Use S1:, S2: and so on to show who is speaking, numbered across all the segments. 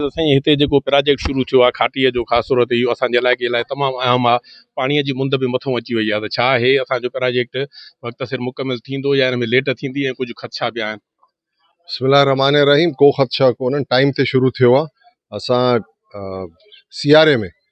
S1: سائين هتي جيڪو پراجيڪٽ شروع ٿيو آهي کاٽيء جو خاص طور تي اهو اسان جي علائقي لاء تمام اهم آهي پاڻيء جي مند به مٿون اچي وئي آهي ته ڇا هي اسان جو پراجيڪٽ وقت سر مڪمل ٿيندو يا ان ۾ ليٽ ٿيندي ۽ ڪجهه خدشا به آهن. بسم الله الرحمٰن
S2: الرحيم ڪو خدشا ڪونهن ٽائيم تي شروع ٿيو آهي اسان سياري ۾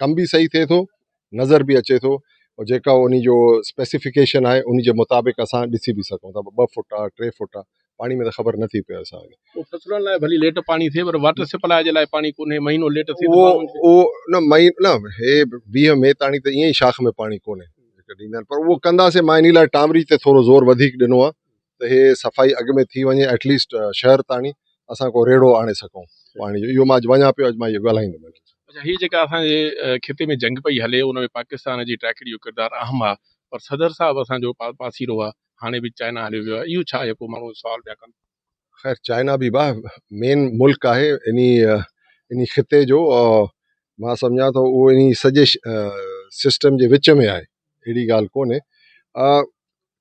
S2: ڪم به صحيح ٿئي ٿو نظر به اچي ٿو او جيڪا انهي جو اسپيسيفڪيشن آهي انهي جي مطابق اسان ڏسي به سگهون ٿا ٻه فوٽ آهي ٽي فوٽ آهي پاڻي ۾ ته خبر نٿي پئي اسان کي فصلن لاء ڀلي ليٽ
S1: پاڻي ٿئي پر واٽر سپلاء جي لاء پاڻي ڪونهي مهينو ليٽ ٿئي اهو اهو نه
S2: مئي نه هي ويهه مئي تاڻي ته ائين ئي شاخ ۾ پاڻي ڪونهي ڏيندا آهن پر اهو ڪنداسين ماهيني لاء ٽامري تي ٿورو زور وڌيڪ ڏنو آهي ته هي صفائي اڳ ۾ ٿي وڃي ايٽ ليسٽ شهر تاڻي اسان ڪو ريڙهو آڻي سگهون پاڻي جو اهو مان اڄ وڃان پيو اڄ مان اهو ڳالهائيندم اچا هي جيڪا اسان
S1: جي خطي ۾ جنگ پئي هلي ان ۾ پاڪستان جي ٽائيڪڙي جو ڪردار اهم آ پر صدر صاحب اسان جو پاسيرو آ هاڻي به چائنا هليو ويو آ اهو ڇا آهي ڪو ماڻهو سوال پيا ڪن. خير چائنا
S2: به با مين ملڪ آهي انهي انهي خطي جو مان سمجهان ٿو اهو انهي سڄي سسٽم جي وچ ۾ آهي اهڙي ڳالهه ڪونهي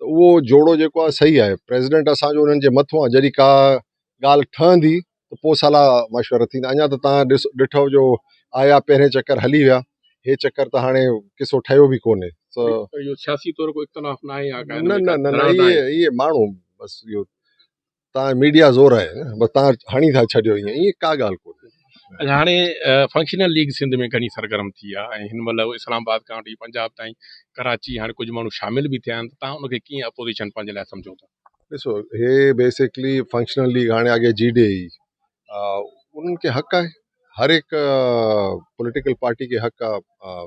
S2: ته اهو جوڙو جيڪو آهي صحيح آهي پريزيڊنٽ اسانجو انهن جي مٿو آهي جڏهن ڪا ڳالهه ٺهندي ته پوء صلاح مشورا ٿيندا اڃا ته تان ڏس ڏٺو جو آيا پهرين چڪر هلي ويا هي چڪر ته هاڻي قصو ٺهيو به ڪونهي اهو سياسي
S1: طور ڪو اختلاف ناهي يا ڪا نه نه نه نه اهي
S2: اهي ماڻهو بس اهو تان ميڊيا زور آهي بس تان هڻي ٿا ڇڏيو ايئن ايئن ڪا ڳالهه ڪونهي. اچا هاڻي
S1: فنڪشنل ليگ سنڌ ۾ گهڻي سرگرم ٿي آهي ۽ هن مهل اسلام آباد کان وٺي پنجاب تائين ڪراچي هاڻي ڪجهه ماڻهو شامل به ٿيا آهن ته تان ان کي ڪيئن اپوزيشن پنهنجي لاء سمجهو ٿا. ڏسو هي
S2: بيسڪلي فنڪشنل ليگ هاڻي اڳي جي ڊي اي انهن کي حق آهي هر هڪ پوليٽيڪل پارٽي کي حق آهي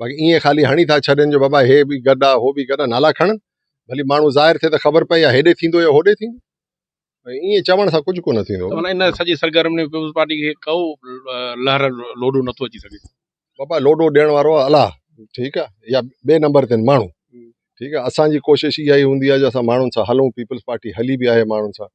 S2: باقي ايئن خالي هڻي ٿا ڇڏين جو بابا هي به گڏ آهي هو به گڏ آهي نالا کڻن ڀلي ماڻهو ظاهر ٿئي ته خبر پئي يا هيڏي ٿيندو يا هوڏي ٿيندو ائين چوڻ سان ڪجهه ڪونه ٿيندو ته ان سڄي سرگرمي
S1: ۾ پيپلز پارٽي کي ڪو لهر لوڏو نٿو اچي سگهي بابا لوڏو ڏيڻ
S2: وارو آهي الله ٺيڪ آهي يا ٻئي نمبر تي ماڻهو ٺيڪ آهي اسانجي ڪوشش اها ئي هوندي آهي جو اسان ماڻهن سان هلون پيپلز پارٽي هلي به آهي ماڻهن سان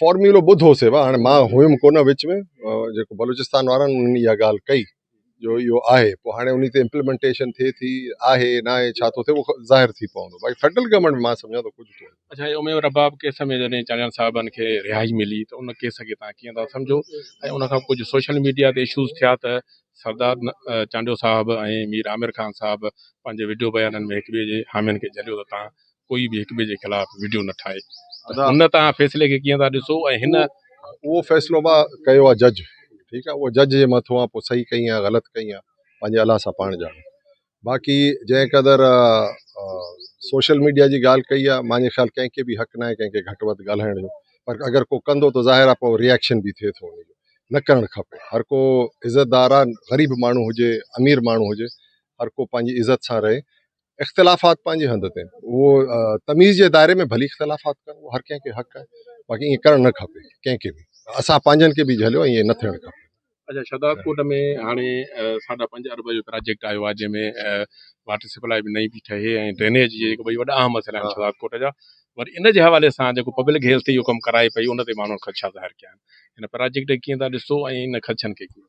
S2: فارمولو ٻڌو سي وا هاڻي مان هيم ڪونه وچ ۾ جيڪو بلوچستان وارن ان اها ڳالهه ڪئي جو اهو آهي پوء هاڻي ان تي امپلمنٽيشن ٿئي ٿي آهي نه آهي ڇا ٿو ٿئي اهو ظاهر ٿي پوندو باقي فيڊرل گورنمنٽ ۾ مان سمجهان ٿو ڪجهه ڪونهي اچا هي اميد رباب
S1: ڪيس ۾ جڏهن چانڊيان صاحبن کي رهائي ملي ته ان ڪيس کي تان ڪيئن ٿا سمجهو ۽ ان کان ڪجهه سوشل ميڊيا تي اشوز ٿيا ته سردار چانڊيو صاحب ۽ مير عامر خان صاحب پنهنجي وڊيو بيانن ۾ هڪ ٻئي جي حامين کي جهليو ته تان ڪوئي به هڪ ٻئي جي خلاف وڊيو نه ٺاهي ان تان فيصلي کي ڪيئن ٿا ڏسو ۽ هن اهو فيصلو
S2: با ڪيو آ جج ٺيڪ آ اهو جج جي مٿو آ پو صحيح ڪئي آ غلط ڪئي آ پنهنجي الله سان پاڻ ڄاڻي باقي جنهن قدر سوشل ميڊيا جي ڳالهه ڪئي آ مانجي خيال ڪنهن کي به حق ناهي ڪنهن کي گهٽ وڌ ڳالهائڻ جو پر اگر ڪو ڪندو ته ظاهر آ پو ريئڪشن به ٿئي ٿو نه ڪرڻ کپي هر ڪو عزت دار آ غريب ماڻهو هجي امير ماڻهو هجي هر ڪو پنهنجي عزت سان رهي اختلافات پنهنجي هنڌ تي اهو تميز جي دائري ۾ ڀلي اختلافات ڪن اهو هر ڪنهن کي حق آهي باقي ائين ڪرڻ نه کپي ڪنهن کي به اسان پنهنجن کي به جهليو ائين نه ٿيڻ کپي اچھا شھداد ڪوٽ
S1: ۾ هاڻي ساڍا پنج ارب جو پراجيڪٽ آيو آهي جنهن ۾ واٽر سپلاء به نئين پي ٺهي ۽ ڊرينيج جي جيڪي ٻئي وڏا اهم مسئلا آهن شھداد ڪوٽ جا وري ان جي حوالي سان جيڪو پبلڪ هيلٿ اهو ڪم ڪرائي پئي ان تي ماڻهن خدشا ظاهر ڪيا آهن ان پراجيڪٽ کي ڪيئن ٿا ڏسو ۽ ان خدشن کي ڪيئن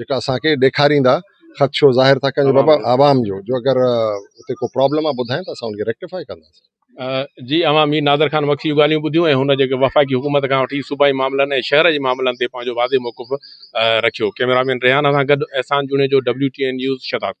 S2: جيڪا اسان کي ڏيکاريندا خدشو ظاهر ٿا ڪن بابا عوام جو جو اگر اتي ڪو پرابلم آ ٻڌائين ته اسان ان کي ريڪٽيفائي ڪنداسين جي اوهان
S1: مير نادر خان بخشي جون ڳالهيون ٻڌيون ۽ هن جيڪي وفاقي حڪومت کان وٺي صوبائي معاملن ۽ شهر جي معاملن تي پنهنجو واضح موقف رکيو ڪئميرا مين ريحان سان گڏ احسان جوڻيجو WTN نيوز شهدادڪوٽ